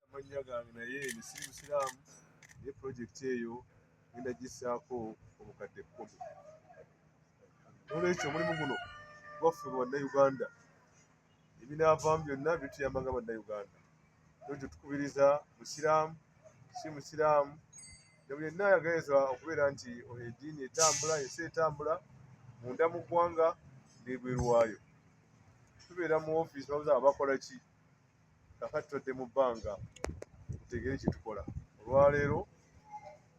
amannya gange naye nisiri musiraamu naye pulojekiti eyo ngenda gisaako obukadde kkumi nolwekyo omulimu guno gwaffe mu bannayuganda ebinaavaamu byonna bituyamba nga bannayuganda nolwekyo tukubiriza musiraamu si musiraamu nebuli yenna ayagaliza okubeera nti oyo eddiini etambula ensi etambula munda mu ggwanga nebwerwayo tubeera mu ofiisi babuza abakola ki kakati tudde mu bbanga tutegere kyetukola olwaleero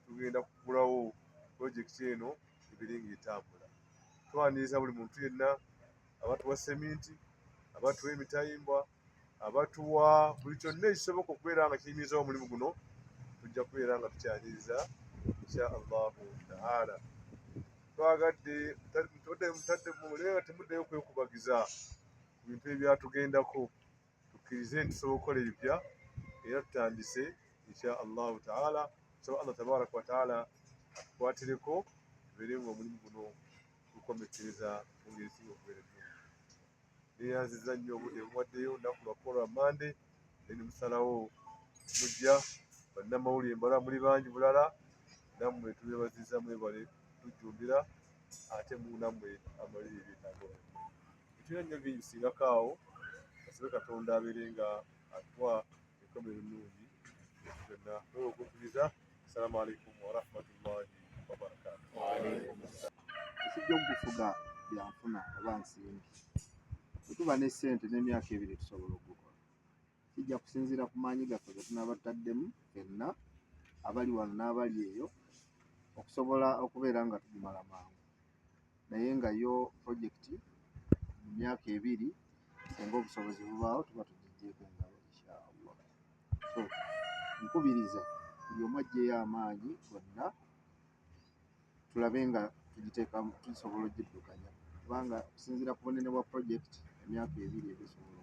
tugenda kugulawo pulojekiti eno ebiri nga etambula twaniriza buli muntu yenna abatuwa seminti abatuwa emitayimbwa abatuwa buli kyonna ekisoboka okubeera nga kiyimirizawo omulimu guno tujja kubeera nga tukyaniriza insha allahu taala twagadde mutadde mutadde mumulera temuddeyo kwekubagiza ku bintu ebyatugendako tukkirize nti tusobola okukola ebipya era tutandise insha allahu taala nsaba allah tabaraka wataala atukwatireko tubeere nga omulimu guno gukomekkereza mu ngeri singa okubeera ennungi neyanziza nnyo obudde buwaddeyo nnaku lwakukola mande naye nemusalawo mujja bannamawulire mbala muli bangi bulala nammwe tubebaziza mwebale tujjumbira ate munamwe amalirire nago bitera nnyo bingi singako awo asabe katonda abeere nga atuwa ekkomo erinungi byonna oyo okukkiriza assalamu alaikum warahmatullahi wabarakatu ekijja okufuga byanfuna oba nsimbi bwetuba ne sente n'emyaka ebiri tusobola okukola Kijja kusinziira ku maanyi gaffe ge tunaaba tutaddemu fenna, abali wano n'abali eyo, okusobola okubeera nga tugimala mangu. Naye nga yo pulojekiti mu myaka ebiri singa obusobozi bubaawo tuba tugiggyeeko engalo inshaallah. So nkubiriza buli omu aggyeyo amaanyi gonna. tulabe nga tugiteeka tusobola ogiddukanya kubanga okusinziira ku bunene bwa pulojekiti emyaka ebiri ebisobola